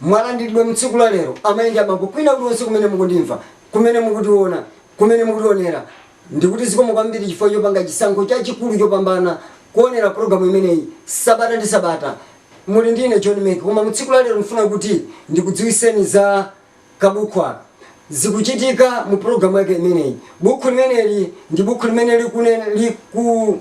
mwalandiridwa mutsiku la lero amayi ndi abambo kwina kulikonse kumene mukundimva kumene mukutiona kumene mukutionera ndikuti zikomo kwambiri chifukwa chopanga chisankho chachikulu chopambana kuonera pulogalamu imeneyi sabata ndi sabata muli ndi ine John Meki koma mutsiku la lero ndifuna kuti ndikudziwiseni za kabukhu aka zikuchitika mu pulogalamu yake imeneyi bukhu limeneli ndi bukhu limene liku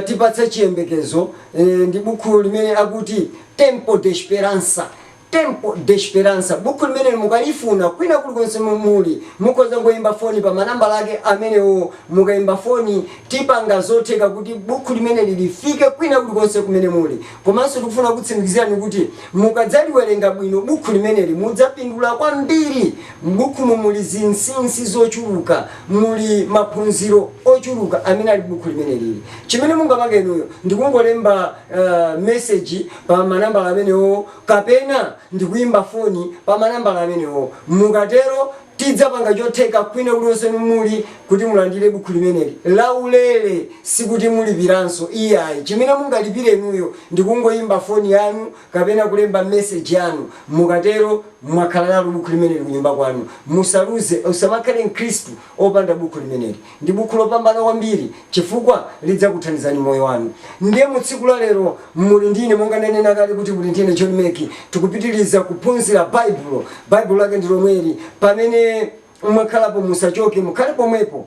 tipatsa chiyembekezo ndi bukhu limene akuti Tempo de Esperança, Tempo de Esperança. Bukhu limeneli mukalifuna kwina kulikonse muli, mukhoza kungoimba foni pa manambala ake amenewo. Mukaimba foni, tipanga zotheka kuti bukhu limeneli lifike kwina kulikonse kumene muli. Komanso tikufuna kukutsimikizirani kuti mukadzaliwerenga bwino bukhu limeneli, mudzapindula kwambiri. M'bukhumu muli zinsinsi zochuluka. muli maphunziro ochuluka amene ali buku limeneli chimene mungapange inuyo ndikungolemba uh, message pa manambala amenewo kapena ndikuyimba foni pa manambala amenewo mukatero tidzapanga chotheka kwina kulikonse muli kuti mulandire buku limeneli laulere sikuti mulipiranso iyayi chimene mungalipire inuyo ndikungoyimba foni yanu kapena kulemba message yanu, mukatero mwakhala nalo bukhu limeneli kunyumba kwanu. Musaluze, usamakhale mkhristu opanda bukhu limeneli. Ndi bukhu lopambana kwambiri chifukwa lidzakuthandizani moyo wanu. Ndiye mu tsiku la lero muli ndi ine, monga ndanena kale kuti muli ndi ine John Meki, tikupitiliza kuphunzira Baibulo. Baibulo lake ndi lomweli. Pamene mwakhalapo musachoke, mukhale pomwepo.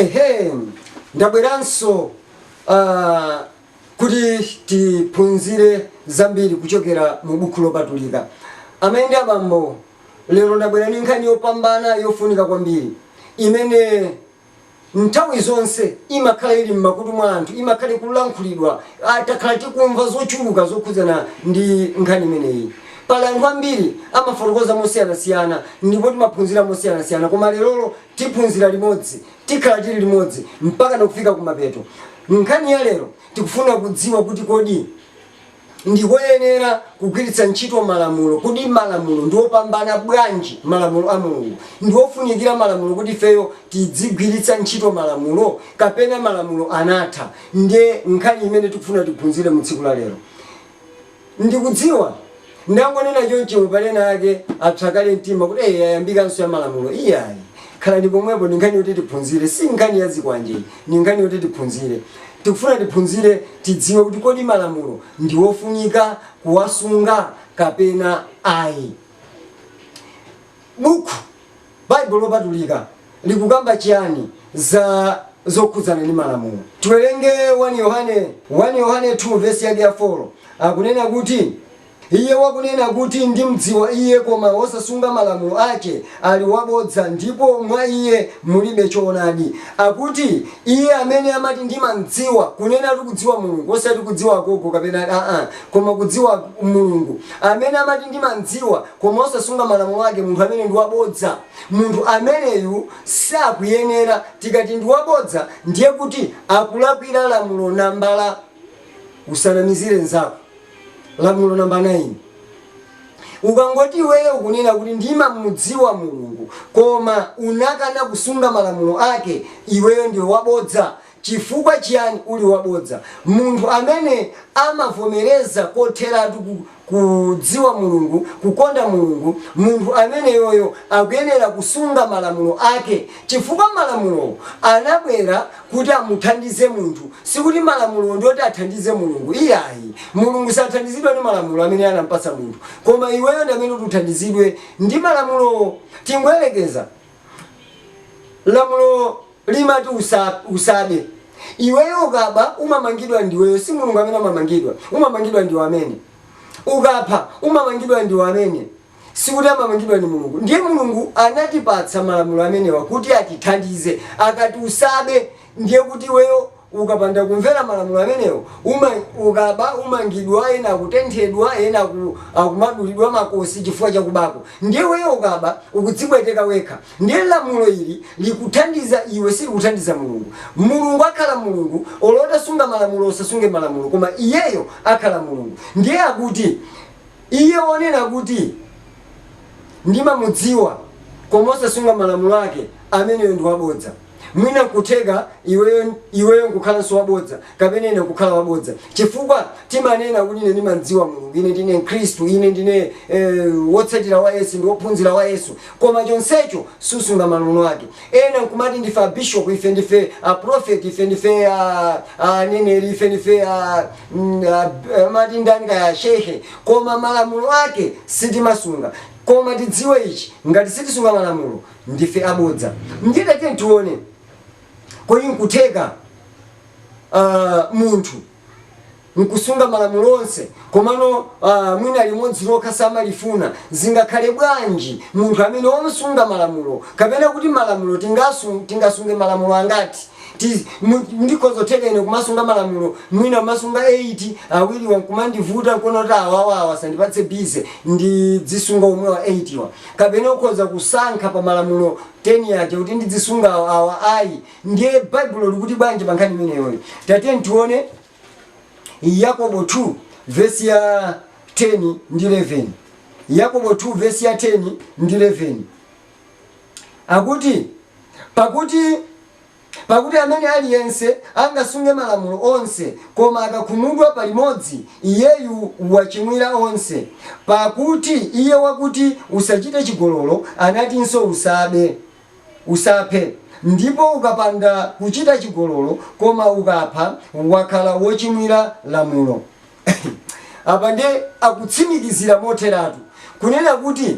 ehe ndabweranso ah, kuti tiphunzire zambiri kuchokera mu buku lopatulika amayi ndi abambo lero ndabwera ndi nkhani yopambana yofunika kwambiri imene nthawi zonse imakhala ili m'makutu mwa anthu, imakhala ikulankhulidwa, a, takhala tikumva zochuluka zokhudzana ndi nkhani imeneyi. Pali anthu ambiri amafotokoza mosiyanasiyana ndipo timaphunzira mosiyanasiyana, koma lerolo tiphunzira limodzi, tikhala tili limodzi mpakana kufika kumapeto. Nkhani ya lero tikufuna kudziwa kuti kodi. Ndi koyenera kugwiritsa ntchito malamulo. Kodi malamulo ndi opambana bwanji malamulo a Mulungu? Ndi ofunikira malamulo kuti ifeyo tidzigwiritsa ntchito malamulo kapena malamulo anatha? Ndiye nkhani imene tikufuna tiphunzire mu tsiku la lero. Ndikudziwa ndangonena chonchomu pali ena ake apsa kale mtima kuti ee yayambikanso ya malamulo. Iyayi, khalani pomwepo ndi nkhani yoti tiphunzire. Si nkhani ya zikwanje iyi, ndi nkhani yoti tiphunzire. Tikufuna tiphunzire tidziwe kuti kodi malamulo ndiwofunika kuwasunga kapena ayi. Bukhu, Baibulo Lopatulika likukamba chiyani za zokhudzana ndi malamulo? Tiwerenge 1 Yohane 1 Yohane 2 vesi yake ya 4 akunena kuti. Iye wakunena kuti, Ndimdziwa Iye, koma wosasunga malamulo ake ali wabodza, ndipo mwa iye mulibe choonadi. Akuti, Iye amene amati, Ndimamdziwa, kunenatu kudziwa Mulungu, osati kudziwa agogo kapena a-a, koma kudziwa Mulungu. Amene amati, Ndimamdziwa, koma osasunga malamulo ake, munthu ameneyu ndi wabodza. Munthu ameneyu sakuyenera. Tikati ndi wabodza, ndiye kuti akulakwira lamulo nambala, Usanamizire mnzako. Lamulo namba 9, Ukangoti iweyo ukunena kuti ndimamudziwa Mulungu koma unakana kusunga malamulo ake, iweyo ndiwe wabodza. Chifukwa chiyani uli wabodza? Munthu amene amavomereza kotheratu ku kudziwa Mulungu, kukonda Mulungu, munthu ameneyoyo akuyenera kusunga malamulo ake chifukwa malamulowo anabwera kuti amuthandize munthu. Sikuti malamulowo ndi oti athandize Mulungu, iyayi. Mulungu sathandizidwa ndi malamulo amene anam'patsa munthu. Koma iweyo ndi amene uti uthandizidwe ndi malamulowo. Tingoyerekeza, lamulo limati usabe. Iweyo ukaba, umamangidwa ndiweyo, si Mulungu amene amamangidwa. Umamangidwa ndiwe amene. Ukapha, umamangidwa ndiwe amene. sikuti amamangidwa ndi Mulungu. Ndiye Mulungu anatipatsa malamulo amenewa kuti atithandize. Akati usabe, ndiye kuti iweyo ukapanda kumvera malamulo amenewo, uma, ukaba umangidwa, ena akutenthedwa, ena aku, akumadulidwa makosi chifukwa cha kubako. Ndiye iweyo ukaba ukudzipweteka wekha. Ndiye lamulo ili likuthandiza iwe, silikuthandiza Mulungu. Mulungu akhala Mulungu, olo utasunga malamulo usasunge malamulo, koma iyeyo akhala Mulungu. Ndiye akuti Iye wonena kuti, Ndimamudziwa, koma osasunga malamulo ake, ameneyo ndi wabodza. Mwina n'kutheka iweyo, iweyo n'kukhalanso wabodza, kapena ine n'kukhala wabodza. Chifukwa timanena kuti, Ine ndimam'dziwa Mulungu, ine ndine Mkhristu, ine ndine, eh, wotsatira wa Yesu, ndi wophunzira wa Yesu, koma chonsecho susunga malamulo ake. Ena nkumati ndife a Bishop, ife ndife a Prophet, ife ndife a a aneneri, ife ndife a mm, a- amati ndani kaya a shehe, koma malamulo ake sitimasunga. Koma tidziwe ichi, ngati sitisunga malamulo ndife abodza. Ndiye tatiyeni tione, kodi nkutheka ah, munthu n'kusunga malamulo onse, komano mwina limodzi lokha samalifuna, zingakhale bwanji munthu amene wosunga malamulo? Kapena kuti malamulo tingasunge malamulo angati? N'kukhoza kutheka ine kumasunga malamulo mwina kumasunga 8, awiriwa n'kumandivuta n'kuona kuti awawa asandipatse bize, ndidzisunga omwewa 8 wa. Kapena ukhoza kusankha pa malamulo 10 aja kuti ndidzisunga awa, awa ayi. Ndiye Baibulo likuti bwanji pa nkhani imeneyoyo? Tatiyeni tione Yakobo 2 vesi ya 10 ndi 11. Yakobo 2 vesi ya 10 ndi 11 akuti pakuti amene aliyense angasunge malamulo onse koma akakhumudwa palimodzi iyeyu wachimwira onse pakuti iye wakuti usachite chigololo anatinso usaphe Usaphe, ndipo ukapanda kuchita chigololo koma ukapha, wakhala wochimwira lamulo. Apa ndiye akutsimikizira motheratu kunena kuti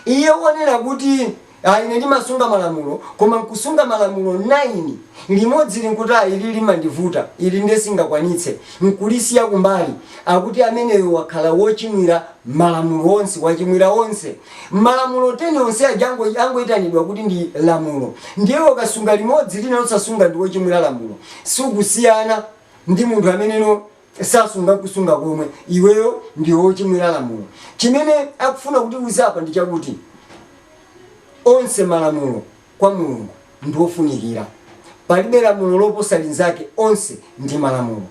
iye wonena kuti, Ayi, ine ndimasunga malamulo, koma nkusunga malamulo 9, limodzili nkuti, Ayi, ili limandivuta, ili ndiye sindingakwanitse, nkulisiya kumbali, akuti ameneyo wakhala wochimwira malamulo onse, wachimwira onse. Malamulo 10 onse aja angoitanidwa kuti ndi lamulo. Ndiye iwe ukasunga limodzi lina osasunga ndiwe wochimwira lamulo. Sukusiyana ndi munthu amene osasunga nkusunga komwe. Iweyo ndiwe wochimwira lamulo. Chimene akufuna kutiuza apa ndi chakuti onse malamulo kwa Mulungu ndi ofunikira. Palibe lamulo loposa linzake onse ndi malamulo.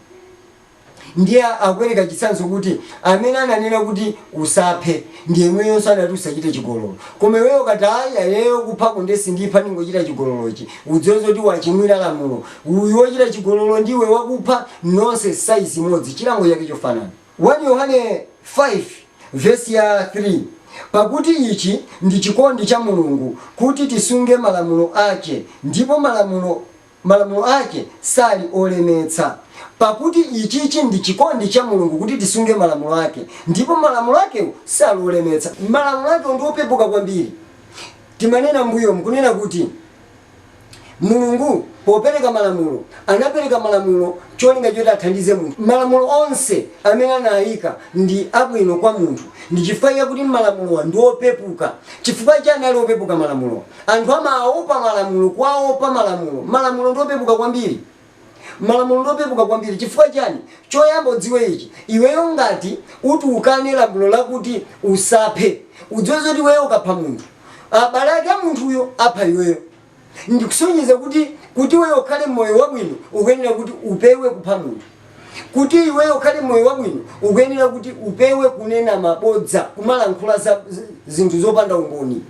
Ndiye akupereka chitsanzo kuti, Amene ananena kuti, Usaphe, ndi yemweyonso anati, Usachite chigololo. Koma iweyo ukati, Ayi, ineyo kupha ko nde sindipha, ndingochita chigololochi, udziwe zoti wachimwira lamulo. Uyu wochita chigololo ndi iwe wakupha, nonse saizi imodzi, chilango chake chofanana. 1 Yohane 5 vesi ya 3 Pakuti ichi ndi chikondi cha Mulungu, kuti tisunge malamulo ake, ndipo malamulo ake sali olemetsa. Pakuti ichichi ndi chikondi cha Mulungu, kuti tisunge malamulo ake, ndipo malamulo ake sali olemetsa. Malamulo akewo ndi opepuka kwambiri. Timanena m'mbuyomu kunena kuti Mulungu popereka malamulo, anapereka malamulo cholinga choti athandize munthu. Malamulo onse amene anayika ndi abwino kwa munthu. Ndi chifukwa chakuti malamulowa ndi opepuka. Chifukwa chani ali opepuka malamulowa? Anthu amaopa malamulo, kuwaopa malamulo. Malamulo ndi opepuka kwambiri. Malamulo ndi opepuka kwambiri. Chifukwa chiyani? Choyamba udziwe ichi, iweyo ngati uti ukane lamulo lakuti usaphe, udziwe zoti iweyo ukapha munthu, abale ake a munthuyo apha iweyo. Ndikusonyeza kuti, kuti iweyo ukhale mmoyo wabwino ukuyenera kuti upewe kupha munthu. Kuti iweyo ukhale mmoyo wabwino, ukuyenera kuti upewe kunena mabodza, kumalankhula za zinthu zopanda umboni.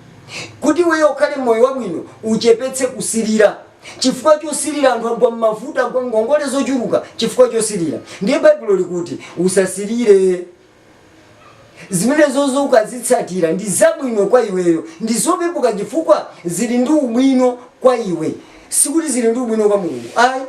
Kuti iweyo ukhale mmoyo wabwino, uchepetse kusilira. Chifukwa chosilira anthu agwa mmavuto, agwa mngongole zochuluka chifukwa chosilira. Ndiye Baibulo likuti usasilire. Zimenezozo ukazitsatira, ndi zabwino kwa iweyo. Ndi zopepuka chifukwa zili ndi ubwino kwa iwe. Sikuti zili ndi ubwino kwa Mulungu ayi.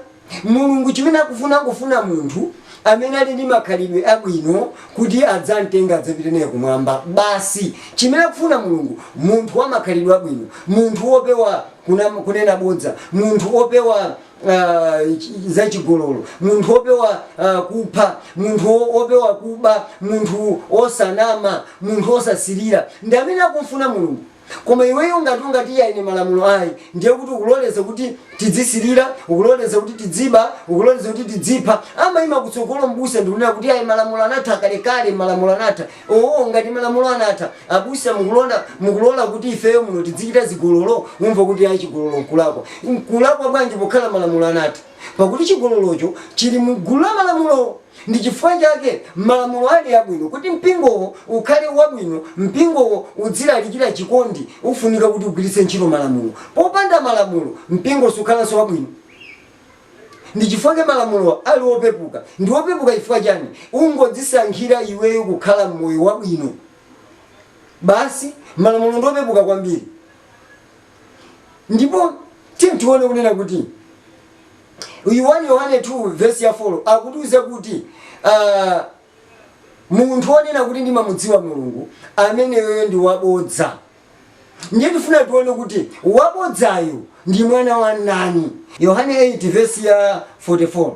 Mulungu chimene akufuna, akufuna munthu amene ali ndi makhalidwe abwino kuti adzam'tenge adzapite naye kumwamba basi. Chimene akufuna Mulungu, munthu wa makhalidwe abwino, munthu wopewa kunama, kunena bodza, munthu wopewa ah, chi- zachigololo munthu wopewa ah, kupha munthu wo- wopewa kuba munthu wosanama munthu wosasilira ndi amene akumfuna mulungu koma iweyo ngati ungati iya ine malamulo ayi ndiye kuti ukuloleza kuti tidzisilira ukuloleza kuti tidziba ukuloleza kuti tidzipha amayima kutsogolo mbusa ndikunena kuti ayi malamulo anatha kalekale malamulo anatha Owo ngati malamulo anatha abusa mukulona mukulola kuti ifeyo muno tidzichita zigololo umva kuti ayi chigololo nkulakwa nkulakwa bwanji pakuti malamulo anatha pakuti chigololocho chili mu gulu la malamulowo ndi chifukwa chake malamulo ali abwino kuti mpingowo ukhale wabwino mpingowo udzilalikira chikondi ufunika kuti ugwiritse ntchito malamulo popanda malamulo mpingo sukhalanso wabwino Ndi chifukwa chake malamulowa ali opepuka. Ndi opepuka chifukwa chani? Ungodzisankhira iweyo kukhala mmoyo wabwino basi. Malamulo ndi opepuka kwambiri. Ndipo tiyeni tione kunena kuti uyu 1 Yohane 2 vesi ya 4 akutiuza kuti aah munthu onena kuti ndimamudziwa Mulungu ameneyoyo ndi wabodza. Ndiye tifuna tione kuti wabodzayu ndi mwana wa ndani. Yohane 8 vesi ya 44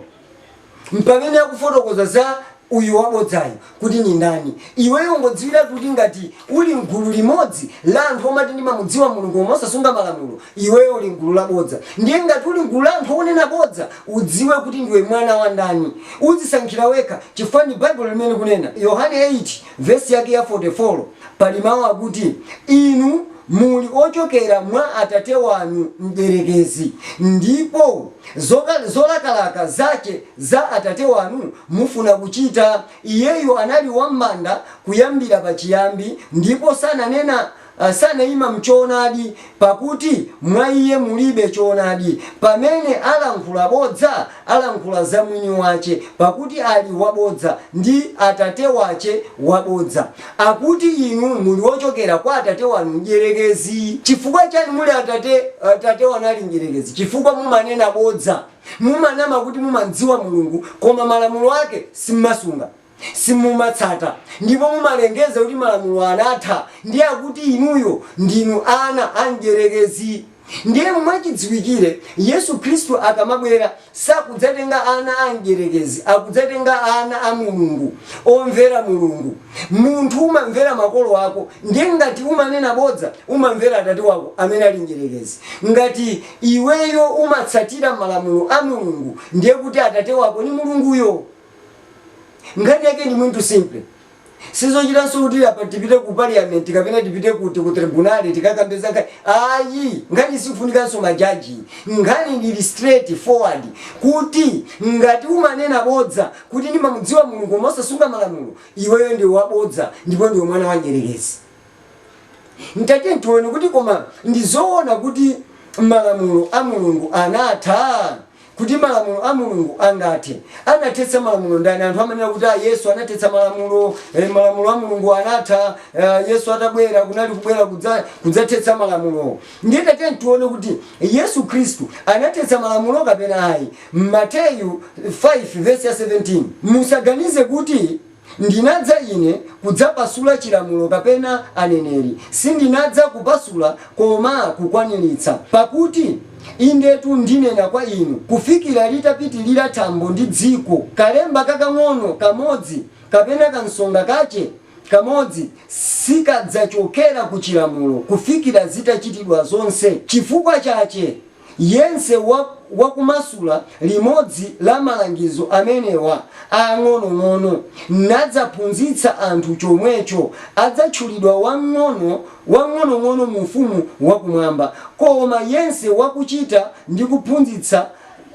mpamene akufotokoza za uyu wabodzayu kuti ndi ndani. Iweyo ungodziwiratu kuti ngati uli mgulu limodzi la anthu omati ndimamudziwa Mulungu koma osasunga malamulo, iweyo uli mgulu la bodza. Ndiye ngati uli mgulu la anthu onena bodza, udziwe kuti ndiwe mwana wa ndani. Udzisankhira wekha chifukwa ndi Baibulo limene likunena. Yohane 8. Vesi yake ya 44, pali mawu akuti, Inu muli ochokera mwa atate wanu mdierekezi, ndipo zolakalaka zache za atate wanu mufuna kuchita. Iyeyo anali wambanda kuyambira pachiyambi, ndipo sananena sanaima m'choonadi, pakuti mwa iye mulibe choonadi, pamene alankhula bodza, alankhula za mwini wache, pakuti ali wabodza, ndi atate wache wa bodza. Akuti inu muli wochokera kwa atate wanu mdyerekezi. Chifukwa chani muli atate atate wanu ali mdyerekezi? Chifukwa mumanena bodza. Mumanama kuti mumam'dziwa Mulungu, koma malamulo ake simumasunga. simumatsata ndipo mumalengeza kuti malamulo anatha ndiye akuti inuyo ndinu ana a mdyerekezi ndiye mwachidziwikire Yesu Khristu akamabwera sakudzatenga ana a mdyerekezi akudzatenga ana a Mulungu omvera Mulungu munthu umamvera makolo ako ndiye ngati umanena bodza umamvera atate wako amene ali mdyerekezi ngati iweyo umatsatira malamulo a Mulungu ndiye kuti atate wako ni Mulunguyo Nkhani yake ndi muntu simple. Sizochitanso kuti apa tipite ku parliament kapena tipite kuti ku tribunale tikakambe za nkhani ayi. Nkhani sifunikanso majaji. Nkhani ili straight forward kuti ngati umanena bodza kuti ndimamudziwa Mulungu koma osasunga malamulo iweyo ndi wabodza ndipo ndi mwana wa mdyerekezi. Tatiyeni tione kuti koma ndi zoona kuti malamulo a Mulungu anatha? Kuti malamulo a Mulungu angathe. Anathetsa malamulo ndani? Anthu amanena kuti Yesu anathetsa malamulo, malamulo a Mulungu anatha, Yesu atabwera kunali kubwera kudzathetsa malamulo. Ndiye tatiyeni tione kuti Yesu Khristu anathetsa malamulo kapena ayi. Mateyu 5 vesi ya 17, musaganize kuti. Ndinadza Ine kudzapasula chilamulo kapena aneneri? Sindinadza kupasula koma kukwaniritsa. Pakuti, indetu ndinena kwa inu, kufikira litapitilira thambo ndi dziko, kalemba kakang'ono kamodzi, kapena kansonga kache kamodzi, sikadzachokera ku chilamulo kufikira zitachitidwa zonse. Chifukwa chache. Yense wakumasula limodzi la malangizo amenewa ang'onong'ono, nadzaphunzitsa anthu chomwecho, adzatchulidwa wamng'onong'ono mu ufumu wa kumwamba, koma yense wakuchita ndi kuphunzitsa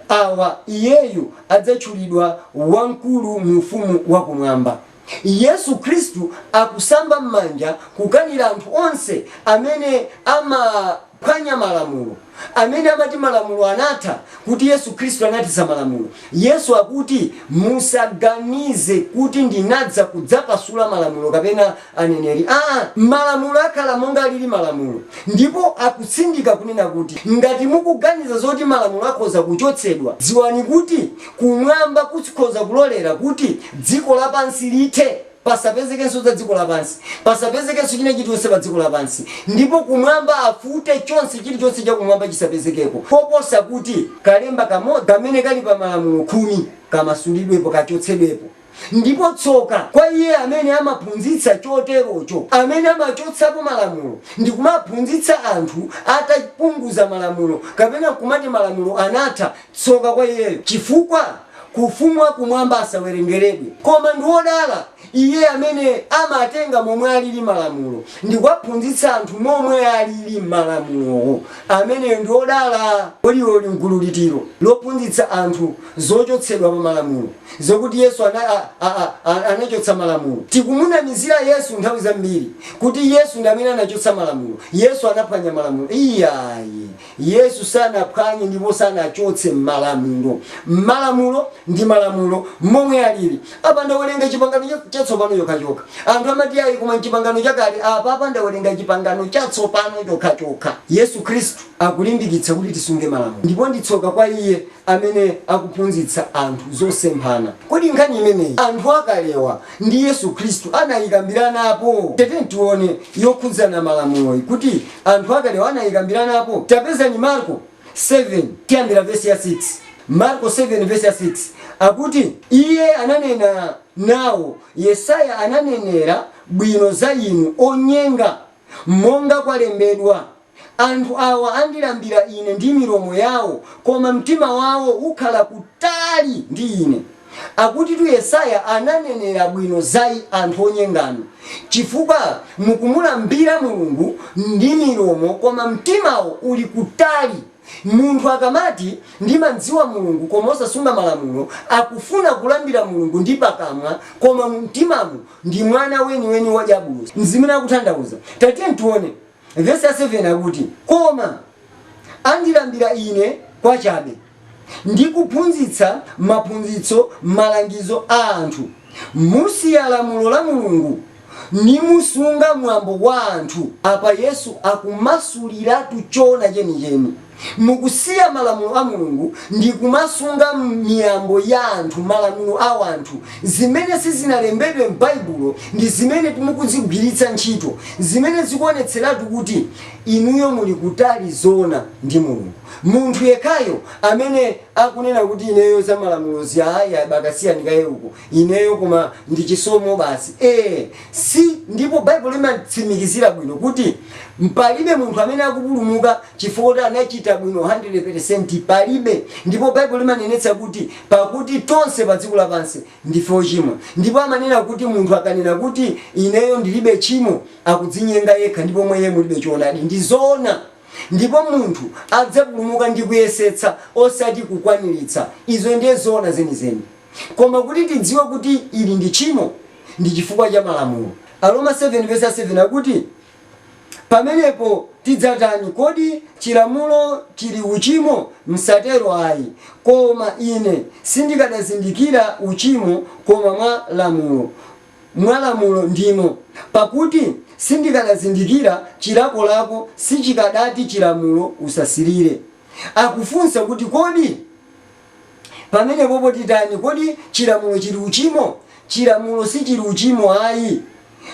awa, iyeyu adzatchulidwa wamkulu mu ufumu wa kumwamba. Yesu Khristu akusamba m'manja kukanira anthu onse amene amaphwanya malamulo, amene amati malamulo anatha, kuti Yesu Khristu anathetsa malamulo. Yesu akuti, Musaganize kuti ndinadza kudzapasula malamulo kapena aneneri. Aa! Malamulo akhala monga alili malamulo. Ndipo akutsindika kunena kuti, Ngati mukuganiza zoti malamulo akhoza kuchotsedwa, dziwani kuti Kumwamba kukhoza kulolera kuti dziko lapansi lithe, pasapezekenso za dziko lapansi, pasapezekenso china chilichonse pa dziko lapansi, ndipo kumwamba afute chonse, chilichonse cha kumwamba chisapezekeko, koposa kuti kalemba kamodzi kamene kali pa Malamulo Khumi kamasulidwepo, kachotsedwepo. Ndipo tsoka kwa iye amene amaphunzitsa choterocho, amene amachotsapo malamulo ndi kumaphunzitsa anthu atapunguza malamulo, kapena nkumati malamulo anatha, tsoka kwa iyeyo, chifukwa ku ufumu wa kumwamba asawerengeredwe. Koma ndi wodala iye amene amatenga momwe alili malamulo, ndi kuwaphunzitsa anthu momwe alili malamulowo, ameneyo ndi wodala. Kodi iwe uli m'gulu liti, lo lophunzitsa anthu zochotsedwa pa malamulo, zokuti Yesu ana, a, a, a, a, anachotsa malamulo. Tikumunamizira Yesu nthawi zambiri kuti Yesu ndi amene anachotsa malamulo, Yesu anaphwanya malamulo. Iyayi, Yesu sanaphwanye ndipo sanachotse malamulo. Malamulo ndi malamulo momwe alili. Apa ndawerenga Chipangano Chatsopano chokhachokha. Anthu amati ayi koma m'Chipangano Chakale, apapa ndawerenga Chipangano Chatsopano chokhachokha. Yesu Khristu akulimbikitsa kuti tisunge malamulo ndipo ndi tsoka kwa iye amene akuphunzitsa anthu zosemphana. Kodi nkhani imeneyi anthu akalewa ndi Yesu Khristu anayikambiranapo? Tatiyeni tione yokhudzana malamuloyi kuti anthu akalewa anayikambiranapo. Tapezani Marko 7 tiyambira vesi ya 6. Marko 7 vesi ya 6 akuti Iye ananena nawo, Yesaya ananenera bwino za inu onyenga, monga kwalembedwa. Anthu awa andilambira Ine ndi milomo yawo, koma mtima wawo ukhala kutali ndi Ine. Akutitu Yesaya ananenera bwino za anthu onyenganu, chifukwa mukumulambira Mulungu ndi milomo koma mtimawo uli kutali. Munthu akamati, Ndimamdziwa Mulungu, koma osasunga malamulo, akufuna kulambira Mulungu ndi pakamwa, koma mumtimamu ndi mwana weniweni wa dyabulosi. Nzimene akutanthauza. Tatiyeni tione. Vesi ya 7 akuti, Koma andilambira Ine kwachabe, ndi kuphunzitsa maphunzitso malangizo a anthu, musiya lamulo la Mulungu, nimusunga mwambo wa anthu. Apa Yesu akumasuliratu choona chenicheni. Mukusiya malamulo a Mulungu ndi kumasunga miyambo ya anthu, malamulo a wanthu, zimene sizinalembedwe m'Baibulo ndi zimene mukuzigwiritsa ntchito, zimene zikuonetseratu kuti inuyo muli kutali zoona ndi Mulungu. Munthu yekhayo amene akunena kuti ineyo za malamulozi ayi bakasiyani kaye uko, ineyo koma ndi chisomo basi si ndipo baibulo limatsimikizira bwino kuti palibe munthu amene akupulumuka chifukwa anachita bwino 100 palibe ndipo baibulo limanenetsa kuti pakuti tonse pa dziko lapansi ndife ochimwa ndipo amanena kuti munthu akanena kuti ineyo ndilibe tchimo akudzinyenga yekha ndipo mwa iye mulibe choonadi ndi zoona ndipo munthu adzapulumuka ndi kuyesetsa osati kukwaniritsa izo ndiye zoona zenizeni Koma kuti tidziwe kuti ili ndi tchimo, ndi chifukwa cha malamulo. Aroma 7 vesi ya 7 akuti, Pamenepo tidzatani? Kodi chilamulo chili uchimo? Msatero ayi. Koma ine sindikadazindikira uchimo koma mwa lamulo, mwa lamulo ndimo, pakuti sindikadazindikira chilakolako sichikadati chilamulo, Usasirire. Akufunsa kuti kodi. Pamenepopo titani? Kodi chilamulo chili uchimo? Chilamulo sichili uchimo ayi.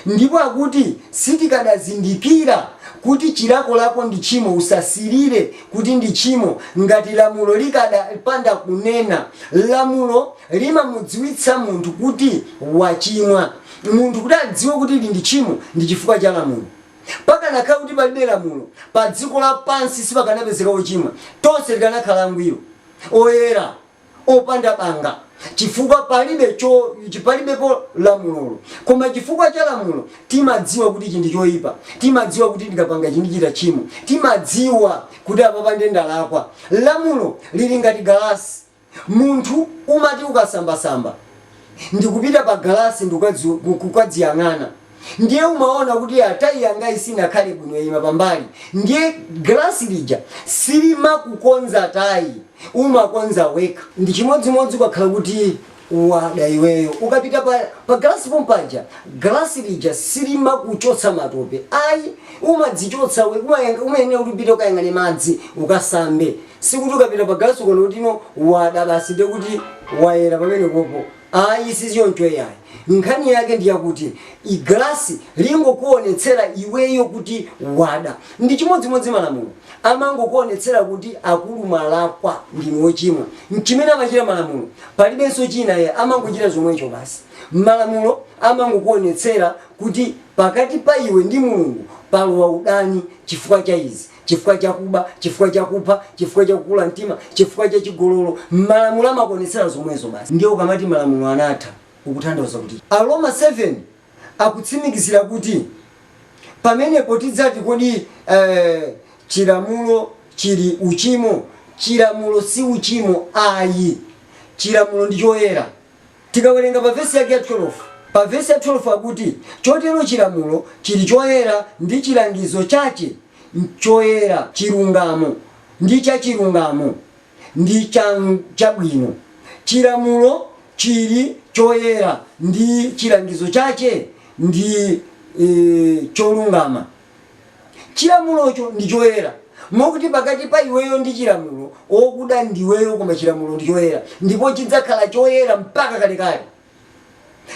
Ndipo akuti sitikadazindikira kuti chilakolako ndi tchimo, usasirire, kuti ndi tchimo ngati lamulo likadapanda kunena. Lamulo limamudziwitsa munthu kuti wachimwa. Munthu kuti adziwe kuti ili ndi tchimo ndi chifukwa cha lamulo. Pakanakhala kuti palibe lamulo, padziko lapansi sipakanapezeka ochimwa. Tonse tikanakhala angwiro, oyera, opanda banga chifukwa palibe, palibepo lamulolo. Koma chifukwa cha lamulo, timadziwa kuti ichi ndi choipa, timadziwa kuti ndikapanga ichi ndichita tchimo, timadziwa kuti apapa ndiye ndalakwa. Lamulo lili ngati galasi. Munthu umati ukasambasamba ndikupita pa galasi ndikukadziyang'ana ndiye umaona kuti a tayi yangayi sinakhale bwino yaima pambali ndiye galasi lija silimakukonza tayi umakonza wekha. Ndi chimodzimodzi ukakhala kuti Wada iweyo. Ukapita pa galasi pompaja, galasi lija silimakuchotsa matope ayi. Umadzichotsa we, umayang umayenera kuti upite ukayang'ane madzi ukasambe. Sikuti ukapita pa galasi ukaona kuti no wada basi ndiye kuti wayera pamenepopo. Ayi sichoncho iyayi. Nkhani yake ndi yakuti i galasi lingokuonetsera iweyo kuti wada. Ndi chimodzimodzi malamulo. amangokuonetsera kuti akulu mwalakwa ndinu ochimwa nchimene amachita malamulo palibenso china ayi amangochita zomwecho basi malamulo amangokuonetsera kuti pakati pa iwe ndi Mulungu palowa udani chifukwa cha izi chifukwa cha kuba chifukwa cha kupha chifukwa cha kukula mtima chifukwa cha chigololo malamulo amakuonetsera zomwezo basi ndiye ukamati malamulo anatha ukutanthauza kuti Aroma 7 akutsimikizira kuti, Pamenepo tidzati kodi, eh, chilamulo chili uchimo? Chilamulo si uchimo ayi. Chilamulo ndi choyera. Tikawerenga pa vesi yake ya 12, pa vesi ya 12 akuti, Chotero chilamulo chili choyera ndi chilangizo chache choyera, chilungamo, ndi chachilungamo. ndi cha chabwino, chilamulo chili choyera, ndi chilangizo chache ndi, e, cholungama. Chilamulocho ndi choyera, mokuti pakati pa iweyo ndi chilamulo, okuda ndiweyo koma chilamulo ndi choyera, ndipo chidzakhala choyera mpaka kalekale.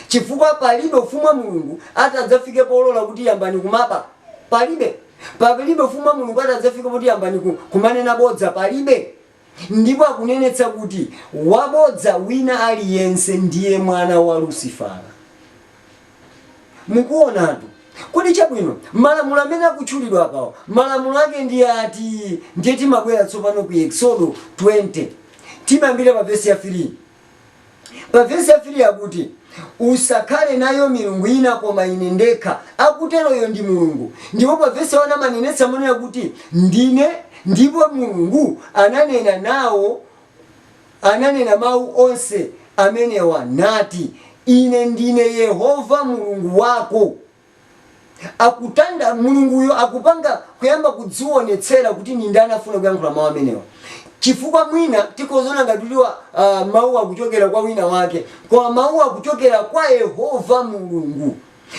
chifukwa palibe ufumu wa mulungu atadzafike polola kuti yambani kumaba palibe palibe ufumu wa mulungu atadzafike poti yambani ku- kumanena bodza palibe ndipo akunenetsa kuti wabodza wina aliyense ndiye mwana wa lusifara mukuonatu kodi chabwino malamulo amene akutchulidwa apawo malamulo ake ndi ati ndiye timabwera tsopano ku eksodo 20 timayambira pa vesi ya 3 Pa vesi ya 3 akuti, Usakhale nayo milungu ina koma Ine ndekha. Akuteroyo ndi Mulungu. Ndipo pa vesi ya 1 amanenetsa monena kuti, Ndine, ndipo Mulungu ananena nawo, ananena mau onse amenewa, nati, Ine ndine Yehova Mulungu wako. akutanda, Mulunguyo akupanga, kuyamba kudziwonetsera kuti ndi ndani afuna kuyankhula mawu amenewa. Chifukwa mwina tikhoza kuona ngati kuti a, mawuwa akuchokera kwa wina wake, koma mawuwa akuchokera kwa Yehova Mulungu.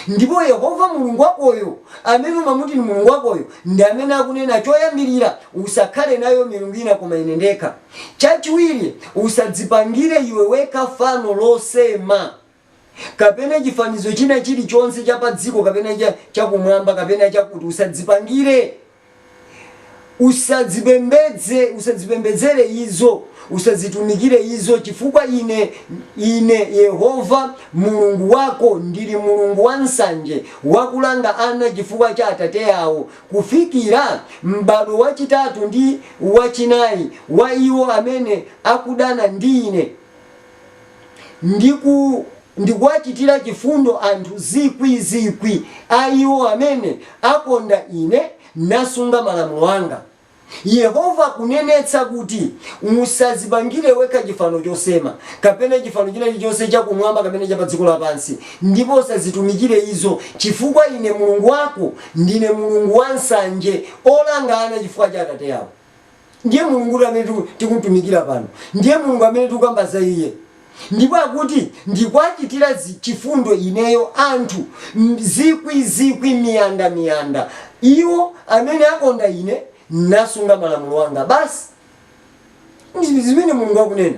Ndipo Yehova Mulungu wakoyo, amene umamuti ndi Mulungu wakoyo, ndi amene akunena choyambirira, Usakhale nayo milungu ina koma Ine ndekha. Chachiwiri, Usadzipangire iwe wekha fano losema. kapena chifanizo china chilichonse cha padziko kapena chakumwamba kapena chakuti usadzipangire usadzipembedze usadzipembedzere izo usadzitumikire izo chifukwa ine ine Yehova Mulungu wako ndili Mulungu wansanje wakulanga ana chifukwa cha atate awo kufikira m'badwo wachitatu ndi wachinayi wa iwo amene akudana ndi ine ndi kuwachitira chifundo anthu zikwi zikwi a iwo amene akonda Ine nasunga malamulo anga. Yehova akunenetsa kuti, Musadzipangire wekha chifano chosema, kapena chifano china chilichonse cha kumwamba kapena cha pa dziko lapansi, ndipo usazitumikire izo, chifukwa Ine Mulungu wako ndine Mulungu wansanje, olanga ana chifukwa cha atate awo. Ndiye Mulungutu amene tikumtumikira pano. Ndiye Mulungu amene tikukamba za iye. Ndipo akuti, Ndikuwachitira chifundo ineyo anthu zikwi zikwi, miyanda miyanda, iwo amene akonda ine, nasunga malamulo anga. Basi zimene Mulungu akunena.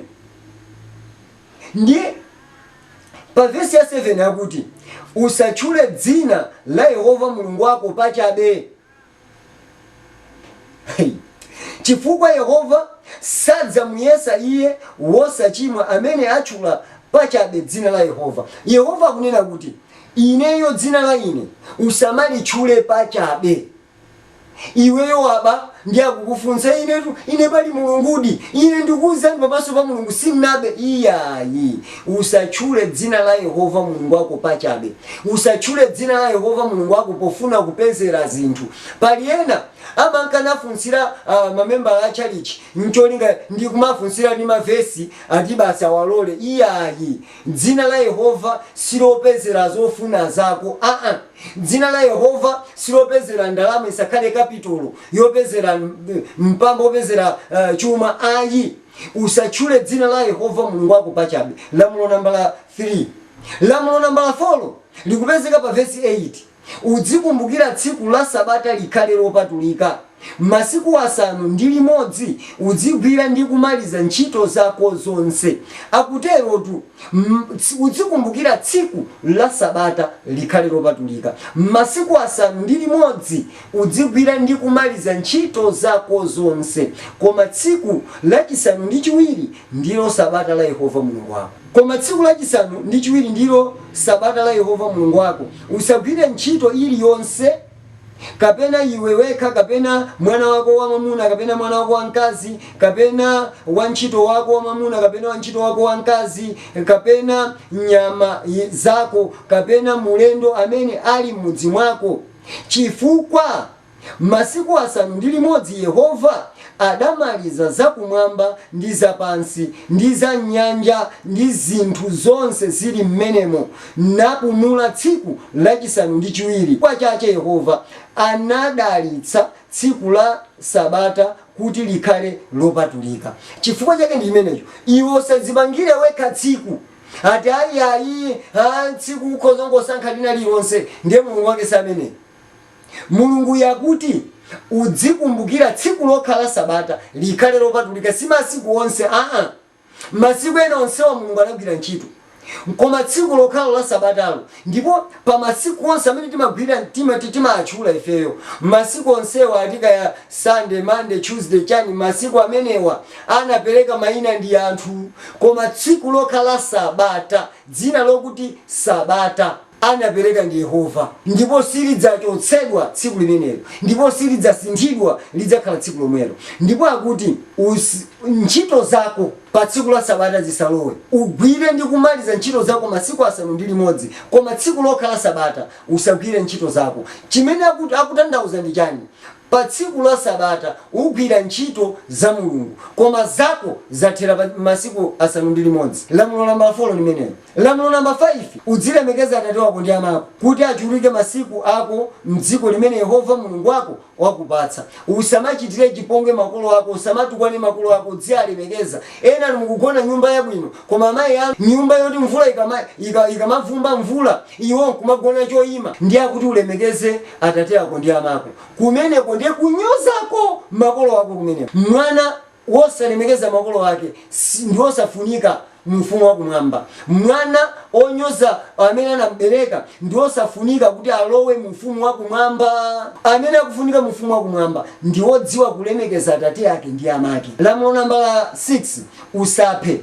Ndiye pa vesi ya 7 akuti, Usatchule dzina la Yehova Mulungu wako pachabe. Chifukwa Yehova sadzamuyesa iye wosachimwa amene atchula pachabe dzina la Yehova. Yehova akunena kuti, Ineyo dzina la ine usamalitchule pachabe. Iweyo waba ndi akukufunsa, Inetu, ine pali Mulungudi, Ine ndikuuzani pamaso pa Mulungu, sinnabe iyayi. Usatchule dzina la Yehova Mulungu wako pachabe. Usatchule dzina la Yehova Mulungu wako pofuna kupezera zinthu. Pali ena amanka nafunsira mamembala a tchalitchi ncholinga ndi kumafunsira ndi ma vesi ati basi awalole. Iyayi. Dzina la Yehova silopezera zofuna zako aa. Dzina la Yehova silopezera ndalama isakhale kapitolo yopezera mpamba opezera chuma ayi. Usatchule dzina la Yehova Mulungu wako pachabe, lamulo nambala 3. Lamulo nambala folo likupezeka pa vesi 8. Udzikumbukira tsiku la Sabata likhale lopatulika. Masiku asanu ndi limodzi udzigwira ndi kumaliza ntchito zako zonse, akuterotu udzikumbukira tsiku la Sabata likhale lopatulika. Masiku asanu ndi limodzi! Udzigwira ndi kumaliza ntchito zako zonse, koma tsiku lachisanu ndi chiwiri ndilo Sabata la Yehova Mulungu wako. Koma tsiku lachisanu ndi chiwiri ndilo Sabata la Yehova Mulungu wako, usagwire ntchito iliyonse, kapena iwe wekha, kapena mwana wako wamamuna, kapena mwana wako wamkazi, kapena wantchito wako wamamuna, kapena wantchito wako wamkazi, kapena nyama zako, kapena mulendo amene ali m'mudzi mwako. Chifukwa masiku asanu ndi limodzi Yehova adamaliza za kumwamba ndi za pansi, ndi za m'nyanja, ndi zinthu zonse zili m'menemo, napumula tsiku lachisanu ndi chiwiri, chifukwa chache Yehova anadalitsa tsiku la Sabata kuti likhale lopatulika. Chifukwa chake ndi chimenecho, iwe usadzipangire wekha tsiku. ati ayi ayi a tsiku ukhoza kungosankha lina lililonse ndiye mulungu wake si ameneyu mulunguyu akuti udzikumbukira tsiku lokha la sabata likhale lopatulika si masiku onse aa masiku ena onsewa mulungu anagwira ntchito koma tsiku lokhalo la sabatalo Ndipo pa masiku onse amene timagwira, tima, ti, timaatchula ifeyo, masiku onsewa, ati, kaya Sunday, Monday, Tuesday, chani, masiku amenewa anapereka maina ndi anthu, koma tsiku lokha la Sabata, dzina lokuti Sabata, anapereka ndi Yehova, ndipo silidzachotsedwa tsiku limenelo, ndipo silidzasinthidwa, lidzakhala tsiku lomwelo. Ndipo akuti ntchito zako. Pa tsiku la Sabata zisalowe, ugwire ndi kumaliza ntchito zako masiku asanu ndi limodzi, koma tsiku lokha la Sabata usagwire ntchito zako. Chimene akutanthauza ndi chani? Pa tsiku la Sabata ugwira ntchito za Mulungu, koma zako zathera pa masiku asanu ndi limodzi. Lamulo nambala folo limenelo. Lamulo namba faifi, udzilemekeza atate wako ndi amako, kuti achuluke masiku ako m'dziko limene Yehova Mulungu wako wakupatsa. Usamachitire chipongwe makolo ako, usamatukwane makolo ako, udzialemekeza. Enanu mukugona nyumba yabwino, koma amayi anu nyumba yoti mvula ikamavumba mvula iwo nkumagona choima, ndiye akuti ulemekeze atate ako ndi amako. Kumeneko ndiye kunyozako makolo ako kumeneko. Mwana Wosalemekeza makolo ake si, ndi wosafunika mu Ufumu wa Kumwamba. Mwana onyoza amene anam'bereka ndi wosafunika kuti alowe mu Ufumu wa Kumwamba. Amene akufunika mu Ufumu wa Kumwamba ndi wodziwa kulemekeza atate ake ndi amake. Lamulo nambala 6, Usaphe.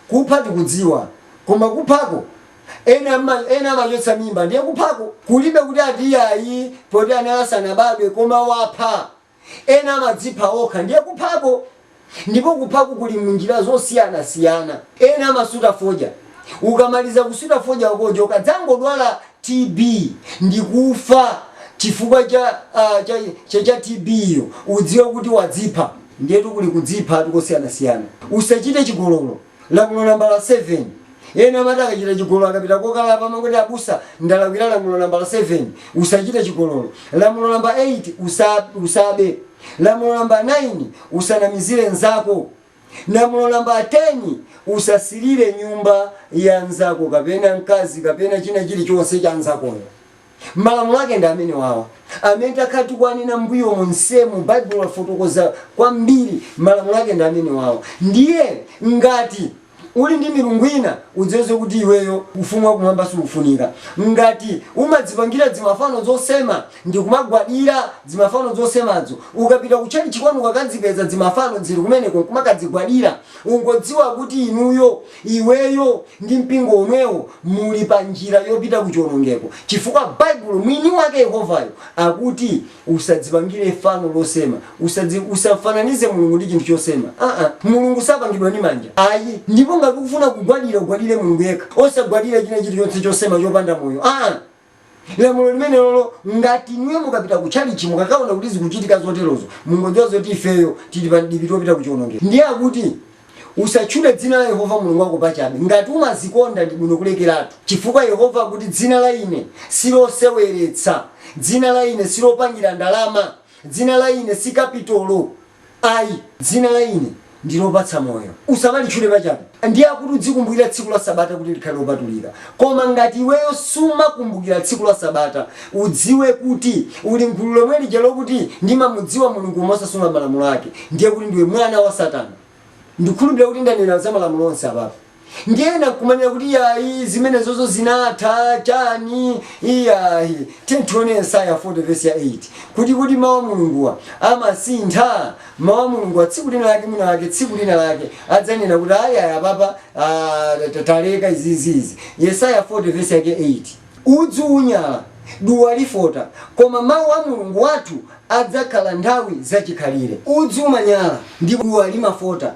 Kupha tikudziwa, koma kuphako ena, ena amachotsa mimba ndiye kuphako? Kulibe kuti ati ayi poti anali asanabadwe, koma wapha. Ena amadzipha okha, ndiye kuphako, ndipo kuphako kuli munjira zosiyanasiyana. Ena amasuta fodya, ukamaliza kusuta fodya wakojo ukadzangodwala TB ndi kufa chifukwa cha cha cha cha TB yo udziwe kuti wadzipha. Ndiyetu kuli kudziphatu kosiyanasiyana. Usachite chigololo, Lamulo nambala 7, Ena amati akachita chigololo akapita kokalapa amangoti, Abusa, ndalakwira lamulo nambala 7, Usachite chigololo. Lamulo namba 8, Usa, Usabe. Lamulo namba 9, Usanamizire mnzako. Lamulo namba 10, Usasirire nyumba ya mnzako kapena mkazi kapena china chilichonse cha mnzakoyo. Malamulo ake ndi amenewawa amene takhala tikuwanena mmbuyo monsemu. Baibulo lafotokoza kwambiri. Malamulo ake ndi amenewawa. Ndiye ngati uli ndi milungu ina, udziwe zokuti iweyo ufumu wa kumwamba sukufunika. Ngati umadzipangira dzimafano dzosema ndi kumagwadira dzimafano dzosemadzo, ukapita kutchalitchi kwanu ukakadzipeza dzimafano dziri kumeneko nkumakadzigwadira, ungodziwa kuti inuyo Iweyo ndi mpingo umenewo muli panjira yopita ku chiwonongeko, chifukwa Baibulo, Mwiniwake, Yehovayo, akuti, Usadzipangire fano losema. Usadzi, usafananize Mulungu ndi chinthu chosema. A-nha. Mulungu sapangidwa ndi manja. Ayi. Ndipo ngati ukufuna kugwadira, ugwadire Mulungu yekha. Osagwadira china chirichonse chosema chopanda moyo. A-nha. Lamulo limenelolo, ngati inuyo mukapita ku tchalitchi mukakaona kuti zikuchitika zoterozo, mungodziwa zoti ifeyo tili pa mdipiti wopita ku chionongeko. Ndiye akuti, Usatchule dzina la Yehova Mulungu wako pachabe. Ngati umazikonda ndi bwino kulekeratu, chifukwa Yehova akuti, Dzina la ine si loseweretsa. Dzina la ine si lopangira ndalama. Dzina la ine si kapitolo. Ayi, dzina la Ine ndi lopatsa moyo. Usamalitchule pachabe. Ndiye akuti udzikumbukira tsiku la Sabata kuti likhale lopatulika. Koma ngati iweyo sumakumbukira tsiku la Sabata, udziwe kuti uli m'gulu lomwe lija lokuti, Ndimamudziwa Mulungu koma osasunga malamulo ake. Ndiye kuti ndiwe mwana wa Satana. Ndikhulupirira kuti ndanena za malamulo onse apapa. Ndiye ena nkumanena kuti yayi zimenezozo zinatha, chani, iyayi. Tiyeni tione Yesaya 40 vesi ya 8, kuti kodi Mau a Mulunguwa amasintha? Mau a Mulunguwa tsiku lina lake mwina lake tsiku lina lake adzanena kuti ayi ayi apapa aah taleka izizi izi. Yesaya 40 vesi yake 8. Udzu unyala, duwa lifota, koma Mau a Mulungu wathu adzakhala nthawi zachikhalire. Udzu umanyala ndipo duwa limafota,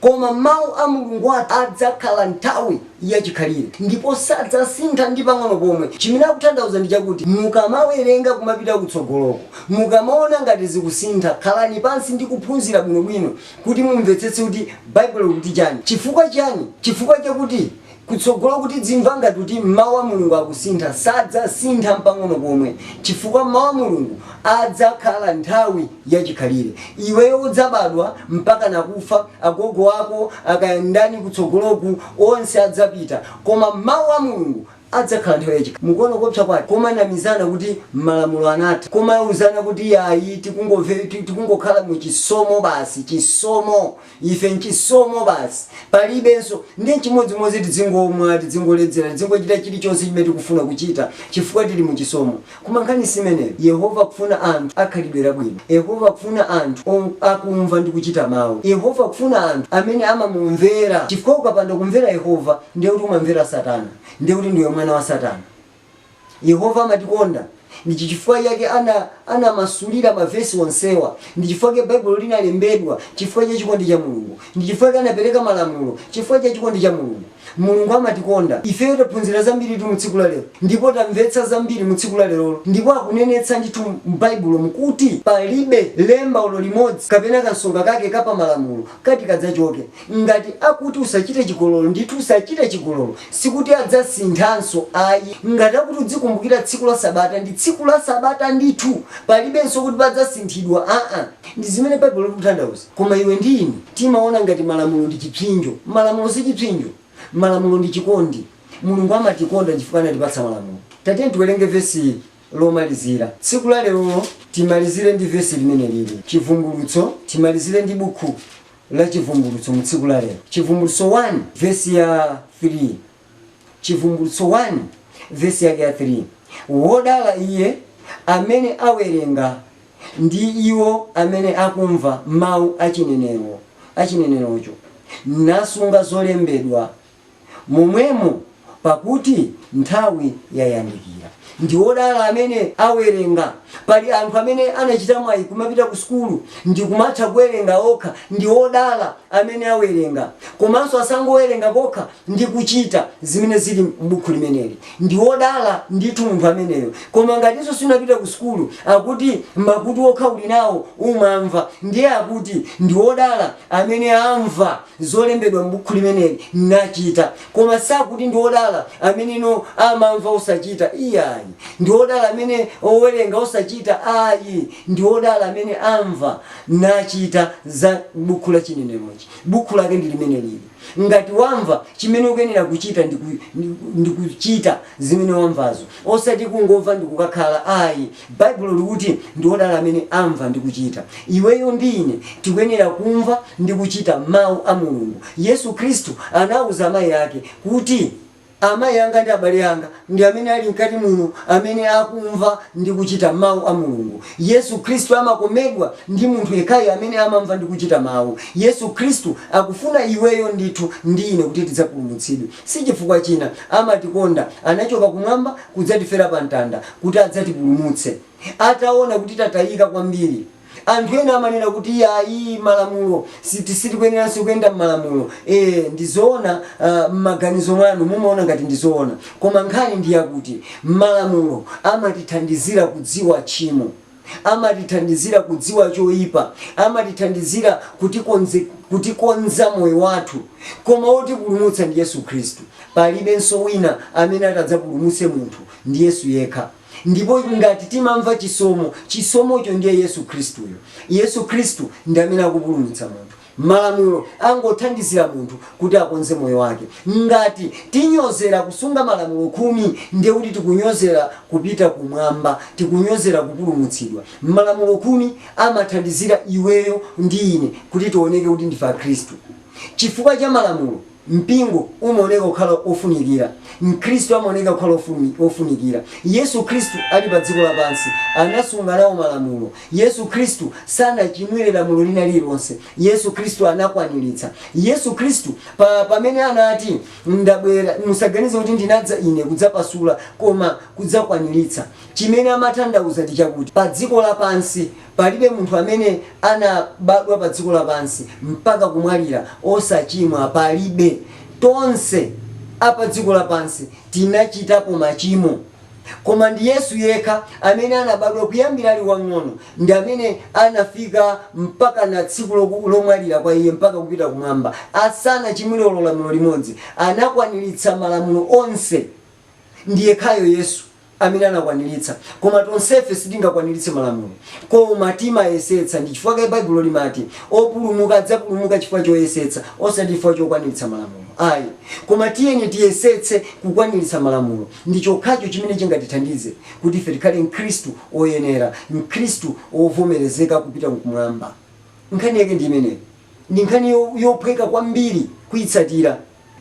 Koma Mawu a Mulungu athu Adzakhala nthawi yachikhalire, ndipo sadzasintha ndi pang'ono pomwe. Chimene akutanthauza ndi chakuti, mukamawerenga kumapita kutsogoloko, mukamaona ngati zikusintha, khalani pansi ndi kuphunzira bwinobwino kuti mumvetsetse kuti Baibulo likuti chani. Chifukwa chiyani? Chifukwa chakuti kutsogoloku tidzimva ngati kuti Mau a Mulungu akusintha, sadzasintha mpang'ono pomwe chifukwa Mau a Mulungu adzakhala nthawi ya chikhalire. Iweyo udzabadwa mpakana kufa, agogo ako a kaya ndani kutsogoloku onse adzapita koma Mau a Mulungu adzakhala nthawi ya chikhalire. Mukuona kuopsa kwake? Komanamizana kuti malamulo anatha, komauzana kuti yayi tikungovepi, tikungokhala mu chisomo basi, chisomo, Ife nchisomo basi. Palibenso. Ndiye nchimodzimodzi tidzingomwa, tidzingoledzera, tidzingochita chirichonse chimene tikufuna kuchita, chifukwa tiri mu chisomo. Koma nkhani si imeneyo. Yehova akufuna anthu a khalidwe labwino. Yehova akufuna anthu ong akumva ndi kuchita Mawu. Yehova akufuna anthu amene amamumvera, chifukwa ukapanda kumvera Yehova, ndiye kuti umamvera Satana, ndiye kuti ndiwe mwana wa Satana. Yehova amatikonda. Ndi chichifukwa chake ana anamasulira mavesi onsewa. Ndi chifukwa chake Baibulo linalembedwa, chifukwa cha chikondi cha Mulungu. Ndi chifukwa chake anapereka malamulo, chifukwa cha chikondi cha Mulungu. Mulungu amatikonda. Ifeyo taphunzira zambiritu mu tsiku la lero, ndipo tamvetsa zambiri mu tsiku la lero. Ndipo akunenetsa ndithu m'Baibulomu kuti palibe lemba olo limodzi kapena kansonga kake ka pa malamulo kati kadzachoke. Ngati akuti usachite chigololo, ndithu usachite chigololo. Sikuti adzasinthanso ayi. Ngati akuti udzikumbukira tsiku la Sabata, ndi tsiku la Sabata ndithu. Palibenso kuti padzasinthidwa aa. Ndi zimene Baibulo likutanthauza. Koma iwe ndi ine timaona ngati malamulo ndi chipsinjo. Malamulo si chipsinjo. Malamulo ndi chikondi. Mulungu amatikonda chifukwa anatipatsa malamulo. Tatiyeni tiwerenge vesi lomalizira tsiku la lero. Timalizire ndi vesi limene lili Chivumbulutso. Timalizire ndi Buku la Chivumbulutso mu tsiku la lero, Chivumbulutso 1 vesi ya 3, Chivumbulutso 1 vesi yake ya 3, Wodala iye amene awerenga, ndi iwo amene akumva mawu a chinenerocho, nasunga zolembedwa momwemo, pakuti nthawi yayandikira. Ndi odala amene awerenga. Pali anthu amene anachita mwayi kumapita ku sukulu ndi kumatha kuwerenga okha. Ndi odala amene awerenga. Komanso asangowerenga kokha ndi kuchita zimene zili m'buku limeneli. Ndi wodala ndithu munthu ameneyo. Koma ngatinso sunapite ku sukulu, akuti makutu okha uli nawo umamva. Ndiye akuti, Ndi odala amene amva. zolembedwa m'bukhu limeneli, nachita. Koma sakuti ndi odala amene, no, amamva osachita, iyayi. Ndi odala amene, owerenga osachita, ayi, ndi odala amene amva nachita za m'bukhu la chinenerochi. Bukhu lake ndi limenelili. Ngati wamva, chimene ukuyenera kuchita ndi kuchita zimene wamvazo. Osati kungomva ndikukakhala ayi. Baibulo likuti ndi odala amene amva ndi kuchita. Iweyo ndi ine tikuyenera kumva ndi kuchita mau a Mulungu. Yesu Khristu anauza amayi ake kuti, Amayi anga ndi abale anga ndi amene ali mkati muno amene akumva ndi kuchita mau a Mulungu. Yesu Khristu amakomedwa ndi munthu yekhayo amene amamva ndi kuchita mau. Yesu Khristu akufuna iweyo ndithu ndi ine kuti tidzapulumutsidwe. Si chifukwa china, amatikonda. Anachoka kumwamba kudzatifera pa mtanda kuti adzatipulumutse. Ataona kuti tatayika kwambiri. Anthu ena amanena kuti iyayi malamulo siti sitikuyeneranso kuyenda mmalamulo. Eeh ndi zoona aah mmaganizo mwanu mumaona ngati ndi zoona. Koma nkhani ndi yakuti malamulo amatithandizira kudziwa tchimo. amatithandizira kudziwa choipa, amatithandizira kutikonza moyo wathu, koma wotipulumutsa ndi Yesu Khristu. Palibenso wina amene ati adzapulumutse munthu, ndi Yesu yekha. Ndipo ngati timamva chisomo, chisomocho ndiye Yesu Khristuyo. Yesu Khristu ndi amene akupulumutsa munthu. Malamulo angothandizira munthu kuti akonze moyo wake. Ngati tinyozera kusunga Malamulo Khumi, ndiye kuti tikunyozera kupita kumwamba, tikunyozera kupulumutsidwa. Malamulo Khumi amathandizira iweyo ndi ine kuti tioneke kuti ndife Akhristu. Chifukwa cha Malamulo. Mpingo umaoneka kukhala wofunikira. Mkhristu amaoneka kukhala wofumi, wofunikira. Yesu Khristu ali pa dziko lapansi anasunga nawo malamulo. Yesu Khristu sanachimwire lamulo lina lililonse. Yesu Khristu anakwaniritsa. Yesu Khristu, pa, pamene anati, Ndabwera, musaganize kuti ndinadza Ine kudzapasula, koma kudzakwaniritsa. Chimene amatanthauza ndi chakuti, pa dziko lapansi, Palibe munthu amene anabadwa pa dziko lapansi mpaka kumwalira osachimwa. Palibe. Tonse a pa dziko lapansi tinachitapo machimo. Koma ndi Yesu yekha amene anabadwa kuyambira ali wamng'ono ndi amene anafika mpakana tsiku loku, lomwalira kwa Iye mpaka kupita kumwamba asanachimwire olo lamulo limodzi. Anakwaniritsa malamulo onse. Ndi yekhayo Yesu. amene anakwaniritsa. Koma tonsefe sitingakwaniritse malamulo. Koma timayesetsa. Ndi chifukwa chake Baibulo limati, Opulumuka adzapulumuka chifukwa choyesetsa, osati chifukwa chokwaniritsa malamulo ayi. Koma tiyeni tiyesetse kukwaniritsa malamulo. Ndi chokhacho chimene chingatithandize kuti ife tikhale Mkhristu woyenera, Mkhristu wovomerezeka kupita Kumwamba. Nkhani yake ndi imeneyo. Ndi nkhani yophweka kwambiri kuitsatira.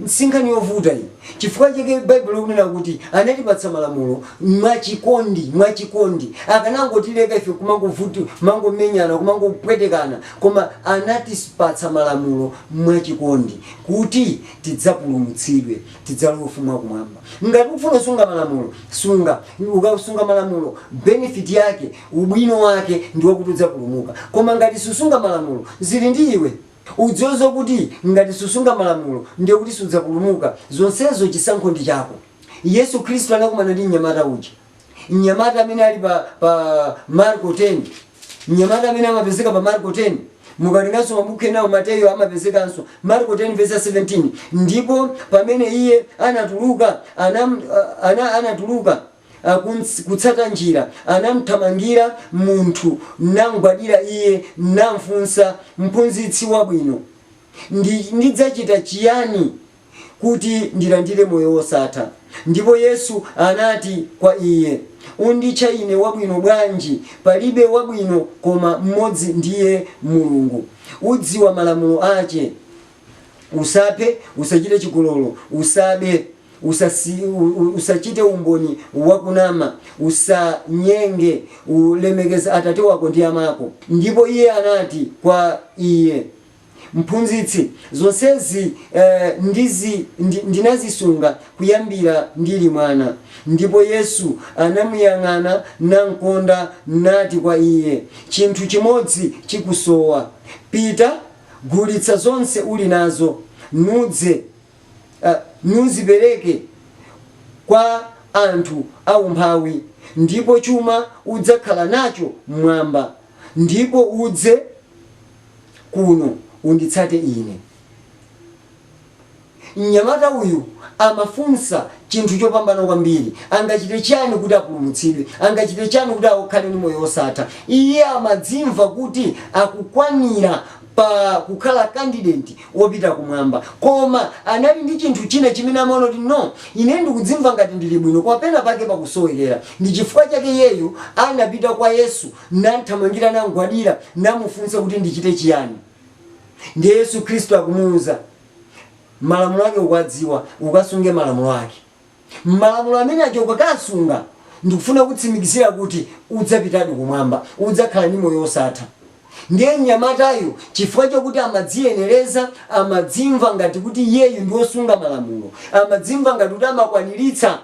Si nkhani yovuta ayi. Chifukwa chake Baibulo likunena kuti anatipatsa malamulo mwa chikondi, mwa chikondi. Akanangotileka ife kumangovuti, kumangomenyana, kumangopwetekana, koma anatipatsa malamulo mwa chikondi kuti tidzapulumutsidwe, tidzalowe ufumu wa kumwamba. Ngati ufuna kusunga malamulo, sunga. Ukasunga malamulo, benefit yake, ubwino wake ndi wakuti udzapulumuka. Koma ngati susunga malamulo, zili ndi iwe. Udziwe zokuti ngati susunga malamulo ndiye kuti sudzapulumuka. Zonsezo chisankho ndi chako. Yesu Khristu anakumana ndi mnyamata uja. Mnyamata amene ali pa pa Marko 10. Mnyamata amene amapezeka pa Marko 10. Mukawerenganso mabukhu enawo Mateyu amapezekanso. Marko 10 vesi 17. Ndipo pamene iye anatuluka anam, uh, ana, anatuluka. akunsi kutsata njira, anamthamangira munthu namgwadira iye namfunsa, Mphunzitsi wabwino, ndi ndidzachita chiyani kuti ndilandire moyo wosatha? Ndipo Yesu anati kwa iye, Unditcha ine wabwino bwanji? Palibe wabwino koma m'modzi ndiye Mulungu. Udziwa malamulo ache. Usaphe, usachite chigololo, usabe, usasi, u, u, usachite umboni wakunama, usanyenge, ulemekeza atate wako ndi amako. Ndipo iye anati kwa iye, Mphunzitsi, zonsezi eh, ndizi, ndi, ndinazisunga kuyambira ndili mwana. Ndipo Yesu anamuyang'ana namkonda nati kwa iye, Chinthu chimodzi chikusowa. Pita. Gulitsa zonse uli nazo, nudze, nuzipereke kwa anthu aumphawi, ndipo chuma udzakhala nacho m'Mwamba, ndipo udze kuno, unditsate Ine. Mnyamata uyu amafunsa chinthu chopambana kwambiri. Angachite chiyani kuti apulumutsidwe? Angachite chiyani kuti akhale ndi moyo wosatha? Iye amadzimva kuti akukwanira pa kukhala kandideti wopita kumwamba. Koma anali ndi chinthu china chimene amaona kuti, No, ine ndikudzimva ngati ndili bwino, koma pena pake pakusowekera. Ndi chifukwa chake iyeyu anapita kwa Yesu, namthamangira, namgwadira, namufunsa kuti, Ndichite chiyani? Ndiye Yesu Khristu akumuuza. Malamulo ake ukuwadziwa, ukasunge malamulo ake. Malamulo amene ajawo ukakaasunga, ndikufuna kukutsimikizira kuti udzapitadi kumwamba, udzakhala ndi moyo wosatha. Ndiye mnyamatayu chifukwa chakuti amadziyenereza, amadzimva ngati kuti iyeyu ndi wosunga malamulo, amadzimva ngati kuti amakwaniritsa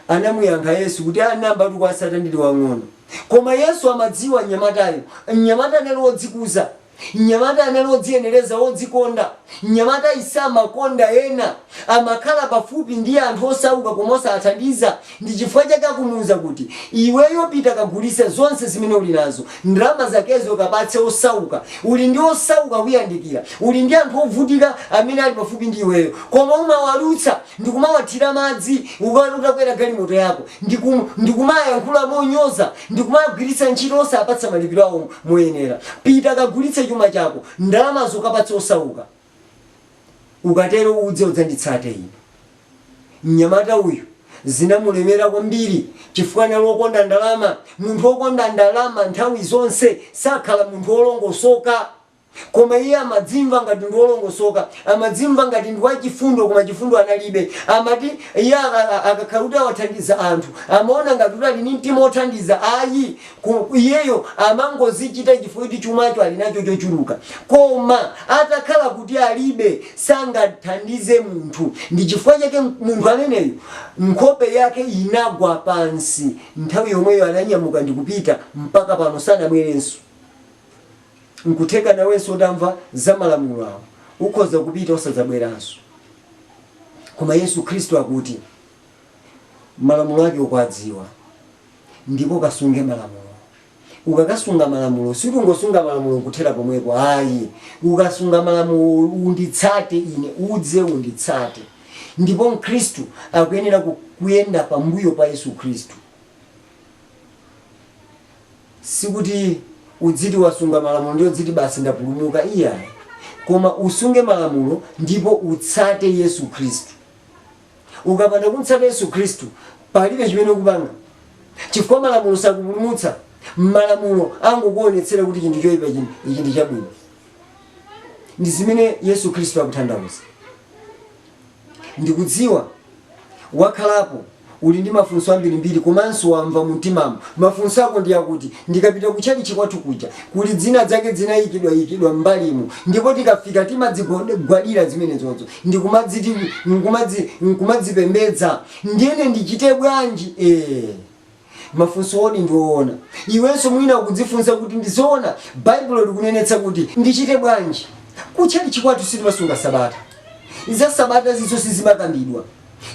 Anamuyankha Yesu kuti, Aa, nayambatu kuwatsata ndili wang'ono. Koma Yesu amadziwa mnyamatayo. Mnyamata anali wodzikuza. Mnyamata anali wodziyenereza, wodzikonda. Mnyamatayu samakonda ena. Amakhala pafupi ndi anthu osauka koma osawathandiza. Ndi chifukwa chake akumuuza kuti, Iweyo pita kagulitse zonse zimene uli nazo. Ndalama zakezo kapatse osauka. Uli ndi osauka akuyandikira. Uli ndi anthu ovutika amene ali pafupi ndi iweyo. Koma umawalutsa. ndikumawathira madzi uka utakwera galimoto yako, ndi kum ndikumayankhula monyoza, ndi kumagwiritsa ntchito osapatsa malipiro awo moyenera. Pita kagulitse chuma chako, ndalamazo ukapatse osauka. Ukatero udze udzanditsate Ine. Mnyamata uyu zinamulemera kwambiri chifukwa anali wokonda ndalama. Munthu wokonda ndalama nthawi zonse sakhala munthu wolongosoka. Koma iye amadzimva ngati ndi wolongosoka, amadzimva ngati ndi wachifundo koma chifundo analibe. Amati, iye aka, a, akakhala kuti awathandiza anthu, amaona ngati kuti ali ndi mtima wothandiza. Ayi, ku, iyeyo amangozichita chifukwa choti chumacho ali nacho chochuluka. Koma atakhala kuti alibe, sangathandize munthu. Ndi chifukwa chake munthu ameneyo nkhope yake inagwa pansi, nthawi yomweyo ananyamuka ndi kupita, mpaka pano sanabwerenso. N'kutheka nawenso utamva za malamulo awo ukhoza kupita osadzabweranso. Koma Yesu Khristu akuti, Malamulo ake ukuwadziwa ndipo kasunge malamulo. Ukakasunga malamulo, sikungosunga malamulo n'kuthera pomwepo ayi. Ukasunga malamulo, unditsate ine, udze unditsate. Ndipo Mkhristu akuyenera kuyenda pambuyo pa Yesu Khristu. Sikuti uziti wasunga malamulo ndiye uziti basi ndapulumuka iyayi. Koma usunge malamulo ndipo utsate Yesu Khristu. Ukapanda kumtsata Yesu Khristu palibe chimene ukupanga chifukwa malamulo sakupulumutsa. Malamulo angokuonetsera kuti chinthu choipa, ichi ndi chabwino. Ndi zimene Yesu Khristu akutanthauza. Ndikudziwa wakhalapo uli ndi mafunso ambirimbiri komanso wamva mumtimamo. Mafunso ako ndi akuti, Ndikapita kutchalitchi kwathu kuja, kuli zinazake zinayikidwayikidwa m'mbalimu ndipo tikafika timazigwadira zimenezo ndi kumadziti, nkumadzi, nkumadzipembedza. Ndiyene ndichite bwanji? Eeh. Mafunsowodi ndi oona. Iwenso mwina ukudzifunsa kuti, Ndi zoona Baibulo likunenetsa kuti ndichite bwanji? Kutchalitchi kwathu sitimasunga Sabata. Za Sabatazo sizimakambidwa.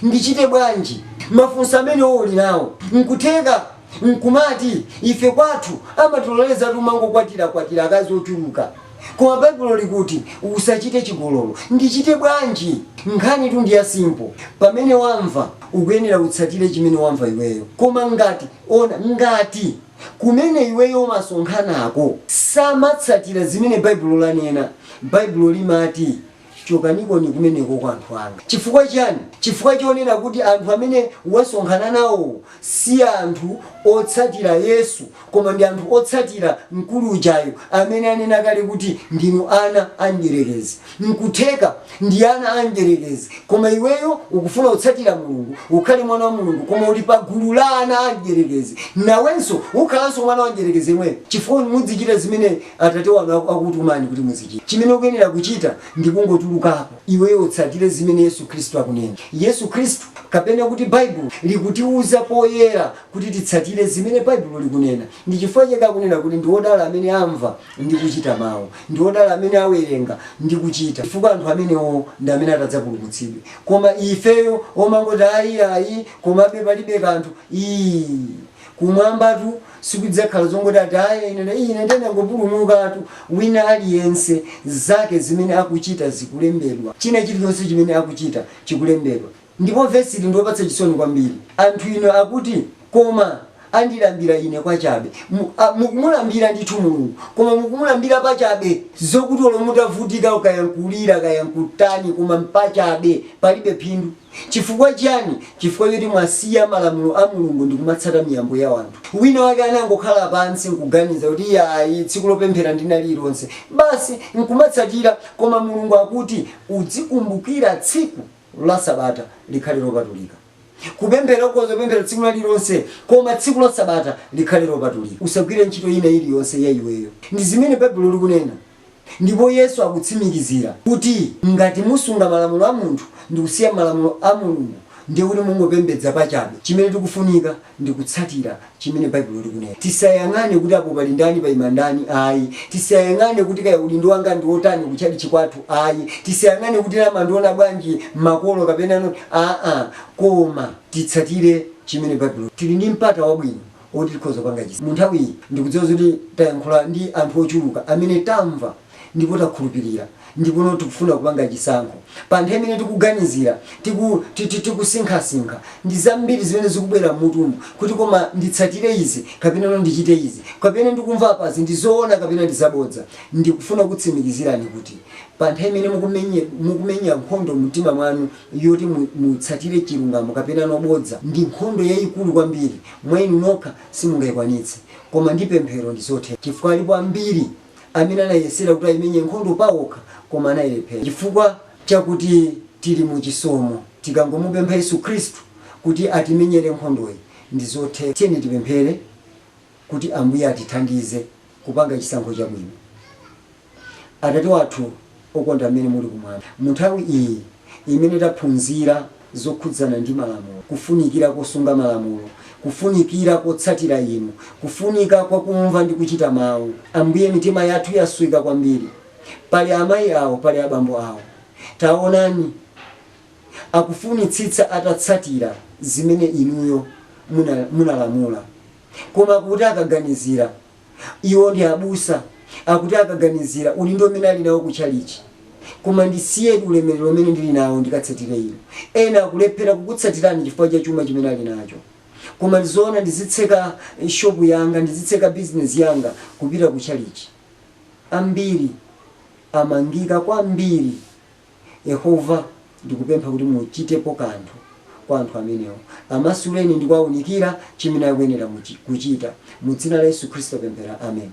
Ndichite bwanji? Mafunso amenewo uli nawo. N'kutheka n'kumati, Ife kwathu amatilolezatu kumangokwatirakwatira akazi ochuluka. Koma Baibulo likuti usachite chigololo. Ndichite bwanji? Nkhanitu ndi ya simple. Pamene wamva, ukuyenera utsatire chimene wamva iweyo. Koma ngati, ona, ngati kumene iweyo umasonkhanako samatsatira zimene Baibulo lanena, Baibulo limati Chokanikoni kumeneko anthu anga. Chifukwa chiyani? Chifukwa chonena kuti anthu amene wasonkhana nawo si anthu otsatira Yesu koma ndi anthu otsatira mkulu ujayo amene anena kale kuti, Ndinu ana a Mdyerekezi. N'kutheka ndi ana a Mdyerekezi koma iweyo ukufuna kutsatira Mulungu, ukhale mwana wa Mulungu koma uli pagulu la ana a Mdyerekezi, nawenso ukhalanso mwana wa Mdyerekezi yemweyo chifukwa muzichita zimene Atate wanu aku, akukutumani kuti muzichita. Chimene ukuyenera kuchita ndi kungotulukapo, iweyo utsatire zimene Yesu Khristu akunena. Yesu Khristu, kapena kuti Baibulo, likutiuza poyera kuti titsatire zimene Baibulo likunena. Ndi chifukwa chake akunena kuti ndi odala amene amva ndi kuchita mau. Ndi odala amene awerenga ndi kuchita, chifukwa anthu amenewo ndi amene atadzapulumutsidwe. Koma ifeyo omangoti ayi ayi, komabe palibe kanthu, ii. kumwambatu sikudzakhala zongoti ati ayi ine na- ine ndinangopulumukatu wina aliyense zake zimene akuchita zikulembedwa china chilichonse chimene akuchita chikulembedwa ndipo vesi ili ndiopatsa chisoni kwambiri anthu inu akuti koma andilambira ine kwachabe Mu- a- mukumulambira ndithu mulungu koma mukumulambira pachabe zokuti olo mutavutika ukayankulira kayankutani koma mpachabe palibe phindu Chifukwa chiyani? Chifukwa choti mwasiya malamulo a Mulungu ndi kumatsata miyambo ya anthu. Wina wake anangokhala pansi nkuganiza kuti iyayi tsiku lopemphera ndi lina lililonse. Basi nkumatsatira koma Mulungu akuti udzikumbukira tsiku la sabata likhale lopatulika. Kupemphera ukhoza kupemphera tsiku lina lililonse koma tsiku la sabata likhale lopatulika. Usagwire ntchito ina iliyonse ya iweyo. Ndi zimene Baibulo likunena. Ndipo Yesu akutsimikizira kuti ngati musunga malamulo a munthu ndikusiya malamulo a Mulungu ndiye kuti mungopembedza pachabe. Chimene tikufunika ndi kutsatira chimene Baibulo likunena. Tisayang'ane kuti apo pali ndani paima ndani ayi. Tisayang'ane kuti kaya udindo wanga ndi wotani ku tchalitchi kwathu ayi. Tisayang'ane kuti ena amandiona bwanji makolo kapena aa koma titsatire chimene Baibulo. Tili ndi mpata wabwino oti tikhoza kupanga chisa. Mu nthawi iyi, ndikudziwa zoti tayankhula ndi anthu ochuluka amene tamva ndipo takhulupirira ndipono tikufuna kupanga chisankho. Pa nthawi imene tikuganizira, tiku, ti, ti, tikusinkhasinkha, ndi zambiri zimene zikubwera m'mutumu kuti koma nditsatire izi kapenano ndichite izi, kapena ndikumva apazi ndi zoona kapena ndi zabodza. Ndikufuna kukutsimikizirani kuti pa nthawi imene mukumenye, mukumenya nkhondo mu mtima mwanu yoti mu, mutsatire chilungamo kapenano bodza, ndi nkhondo yayikulu kwambiri. Mwa inu nokha simungaikwanitse, koma ndi pemphero ndi zotheka. Chifukwa alipo ambiri amene anayesera kuti aimenye nkhondo paokha koma anailephera. Chifukwa chakuti tili mu chisomo, tikangomupempha Yesu Khristu kuti atimenyere nkhondoyi, ndi zotheka. Tiyeni tipemphere kuti Ambuye atithandize kupanga chisankho chabwino. Atate wathu okonda amene muli kumwamba, munthawi iyi imene taphunzira zokhudzana ndi malamulo, kufunikira kosunga malamulo, kufunikira kotsatira inu, kufunika kwa kumva ndi kuchita mawu. Ambuye mitima yathu yasweka kwambiri. Pali amayi awo, pali abambo awo. Taonani, akufunitsitsa atatsatira zimene inuyo munalamula, koma akuti akaganizira Iwo ndi abusa, akuti akaganizira udindo umene ali nawo ku chalichi. Koma ndisiyedi ulemerero umene ndiri nawo ndikatsatire Inu. Ena akulephera kukutsatirani chifukwa cha chuma chimene ali nacho. Koma ndi zoona ndizitseka shopu yanga, ndizitseka bizinezi yanga kupita ku chalichi. Ambiri amangika kwambiri. Yehova, ndikupempha kuti muchitepo kanthu kwa anthu amenewo. Amasuleni ndi kuwaunikira chimene akuyenera kuchita. Mu dzina la Yesu Khristu tapemphera. Ameni.